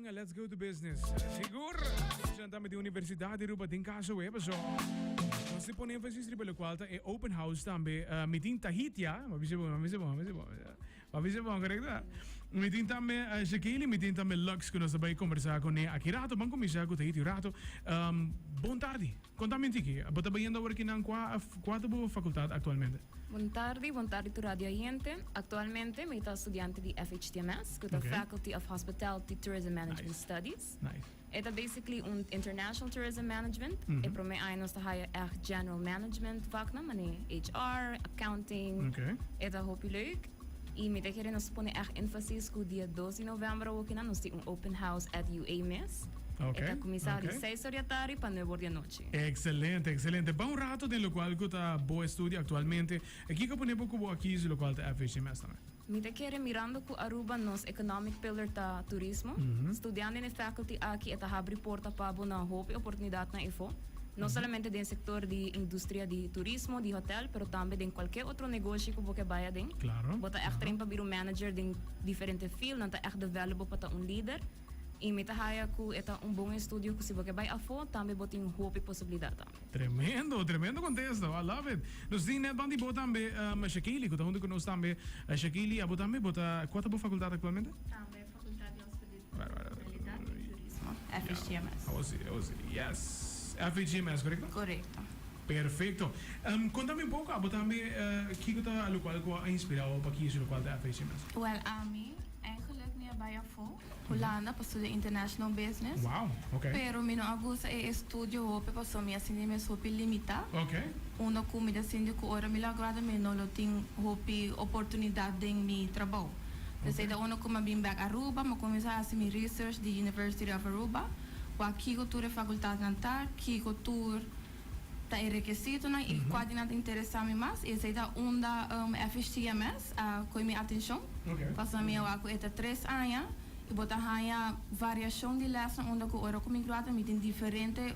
Venga, let's go to business. Sigur, escuchan tambe di Universidad di Aruba den casa we, paso. Mas si pone énfasis riba lo cual ta e open house tambe. Uh, mitin Tahiti, ah, ma bise bon, ma bise bon, ma bise bon. Ma bise bon, correcto? Mitin tambe uh, Shakili, mitin tambe Lux, que nos bay conversar con e aquí rato. Van comenzar con Tahiti rato. Um, bon tarde. Konta mi tiki, bo ta bayendo awor kinan kua kua ta bo fakultat aktualmente? Bon tardi, bon tardi tur radio oyente. Aktualmente mi ta studiante di FHTMS ku ta Oké. Faculty of Hospitality Tourism Management Nice. Studies. Nice. E ta basically un International Tourism Management. E prome aña nos ta haya èg General Management vaknan, manera HR, Accounting. Oké. E ta hopi leuk. Y mi ta kere nos pone ech enfasis cu dia dos di novembro awokinan nos tin un open house at UA mes. Ok, E ta cuminsa di ok. seis or di atardi pa nuebe or di anochi. Excelente, excelente. Bao rato den locual cu ta bo estudio actualmente. E kico pone bo cu bo a kizi locual ta FHD mes tambe? Mi ta kere mirando cu Aruba nos economic pillar ta turismo. Studiando den e faculty aki e ta habri porta pa bo na hopi oportunidadnan efo. No solamente den sector di industria di turismo, di hotel, pero tambe den cualkier otro negoshi cu bo ke bay aden. Claro, Bo ta echt claro. train pa bira un manager den diferente field, nan ta echt develop bo pa ta un lider. Y mi ta haya cu e ta un bon estudio cu si bo ke bay afo, tambe bo tin hopi posibilidad tambe. Tremendo, tremendo contesto. I love it. Nos tin net bandi bo tambe, um, Shakili, cu ta hunto cu nos tambe. Shakili, abo tambe, bo ta, cua ta bo facultad actualmente? Tambe facultad di hospitalidad. Legalidad y Turismo, FHTMS. Awo si, awo si. Yes. FHTMS, correcto? Correcto. Perfecto. Um, contami un poco, abo tambe, uh, kico ta locual cu a inspirao pa kisi locual ta FHTMS? Well, ami, en geluk, mi a bai afo, Hulanda, pa studia International Business. Wow, okay. Pero mi no a gusta e estudio hopi pasobra mi a sinti mes hopi limita. Okay. Unda cu mi ta sinti cu ora mi la gradua mi no lo tin hopi oportunidad den mi trabao. P'esei ta unda cu mi a bin bek Aruba, mi a cuminsa haci mi research di University of Aruba, wak kico tur e facultadnan ta, kico tur ta e requisitonan y cua di nan ta interesa mi mas. Y esei ta unda FHTMS a coge mi atencion, pasobra mi a wak cu e ta tres aña y bo ta haya variacion di lesnan unda cu ora cu mi grua ta mi tin diferente.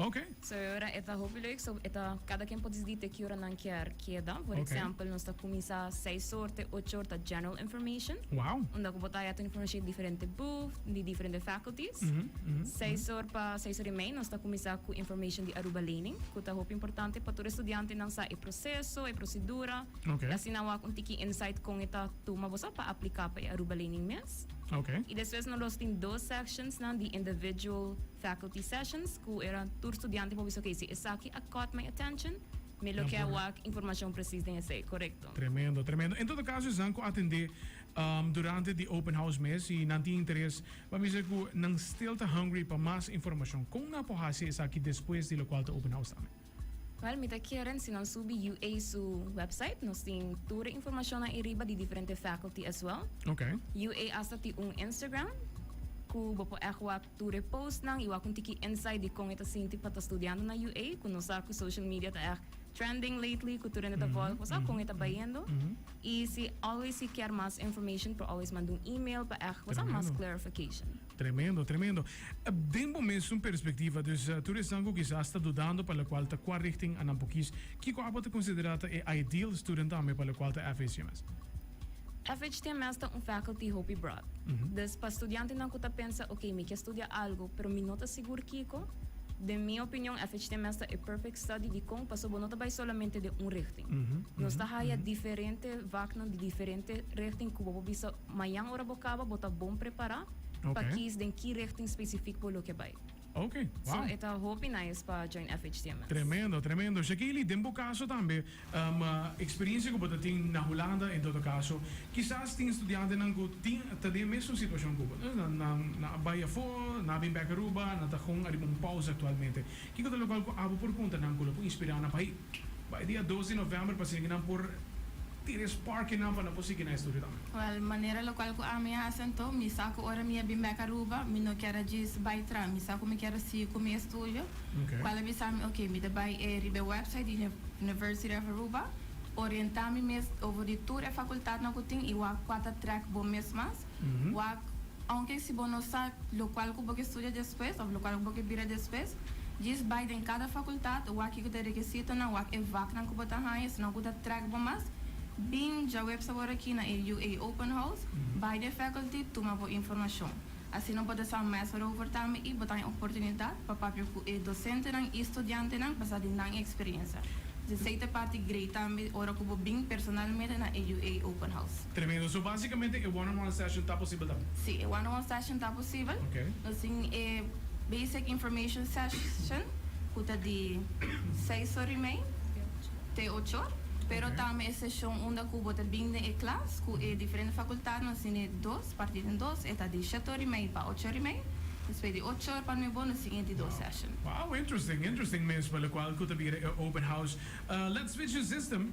Oke. So e ora e ta hopi leuk, so e ta kada ken por disidi te ki ora nan kier keda. Por Oke. eksempel, nos ta kuminsá seis or te ocho or, ta general information. Wou. Unda ku bo ta haya tur informashon di diferente buf, di diferente faculties. Seis or pa seis or i mei nos ta kuminsá ku information di Aruba Lening, ku ta hopi importante pa tur estudiantenan sa e proseso, e prosedura. Oke. I asina wak un tiki insight kon e ta tuma boso pa apliká pa e Aruba Lening mes. Okay. Y despues no los tin dos sections nan di individual faculty sessions cu era tur studiante por bisa, okay, si esaki a caught my attention, mi lo kier wak informacion precies den esey, corecto? Tremendo, tremendo. En todo caso esnan cu a tende um durante di open house mes, si nan tin interes, pa mi ser cu nan still ta hungry pa mas informacion. Con nan por haci esaki despues di locual ta open house tambe? Well mi ta keren si nan subi UA su website nos tin tur e informacion ahi riba di diferente faculty as well. Ok. UA asta tin un Instagram cu bo por echt wak tur e postnan y wak un tiki insight di con e ta sinti pa ta studiando na UA cu nos sa cu social media ta echt trending lately cu tur hende ta volg por sa con e ta bayendo y si always si kier mas information por always manda un email pa echt por sa mas Tremendo. clarification. Tremendo, tremendo. Den bo mesun perspectiva, dus tur esnan cu kisas ta dudando pa locual ta cua richting a nan por kies, kico abo ta considera ta e ideal student tambe pa locual ta FHTMS? FHTMS ta un faculty hopi broad. Dus pa studiantenan cu ta pensa, ok, mi kier studia algo, pero mi no ta sigur kico, den mi opinion FHTMS ta e perfect study. Dicon? Pasobra bo no ta bay solamente den un richting. Nos ta haya diferente vaknan di diferente richting cu bo por bisa. Mañan ora bo kaba bo ta bon prepará pa kies den ki rechting spesifik bo lo ke bai. Oke, wow. So e ta hopi nice pa Join FHTMS. Tremendo, tremendo. Shakely, den bo kaso tambe, eksperensia ku bo ta tin na Hulanda, en todo kaso, kisas tin studiantenan ku tin ta den e mesun situashon ku bo. Nan a bai afó, nan a bin bèk Aruba, nan ta kon ariba un pausa aktualmente. Kiko ta e lokal ku abo por punta nan ku lo por inspirá nan pa hoi? Bai dia dos di novèmber pa siña ku nan por tira e spark inan pa nan por sigui nan estudio tambe. Wèl, manera lokal ku ami a hasi anto, mi sa ku ora mi a bin bèk Aruba, mi no kier a djis bai tras, mi sa ku mi kier a sigui ku mi estudio. Kual a bisa mi, Oke, mi ta bai e riba e wèpsait di University of Aruba, orientá mi mes over di tur e fakultatnan ku tin i wak kua ta trèk bo mes mas. Wak, Aunke si bo no sa lokual ku bo ke studia despues òf lokual ku bo ke bira despues, djis bai den kada fakultat wak ku ta rekisito nan wak e vaknan ku bo ta haña sinon ku ta trèk bo mas, bin dja websa wòrdu aki na e UA Open House, bai den faculty tuma bo informashon. Asina bo ta sa mester over tambe i bo ta haña oportunidat pa papia ku e dosentenan i studiantenan basá den nan eksperensia. Djis ei ta parti grei tambe ora ku bo bin personalmente na e UA Open House. Tremendo. So básicamente e one on one session ta posibel tambe? Sí, e one on one session ta posibel. Nos tin e basic information session cu ta di seis or y mei te ochor, pero tambe e sesión unda cu bo ta bin den e klas cu e diferente facultad, nos tin e dos partí den dos, e ta di shete or y mei pa ochor y mei, despues di ochor pa nuebo nos tin e di dos session. Wow, interesting, interesting mespa, locual cu ta bira e open house. Let's switch e system,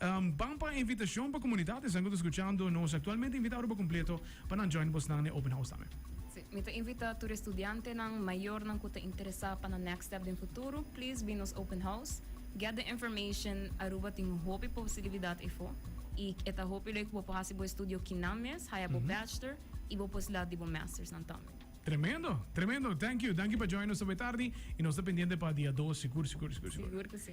Ban pa invitacion pa comunidad esnan cu ta scuchando nos actualmente invita Aruba completo pa nan join bosnan n'e open house tambe. Si, mi ta invita tur estudiantenan mayornan cu ta interesa pa nan next step den futuro, please bin nos open house, get the information, Aruba tin un hopi posibilidad efo y e ta hopi leu cu bo por haci bo estudio kinan mes, haya bo bachelor y bo pues la di bo masters nan tambe. Tremendo, tremendo, thank you, danki pa join nos awe tardi y nos ta pendiente pa dia dos sigur, sigur, sigur, sigur. Sigur cu si.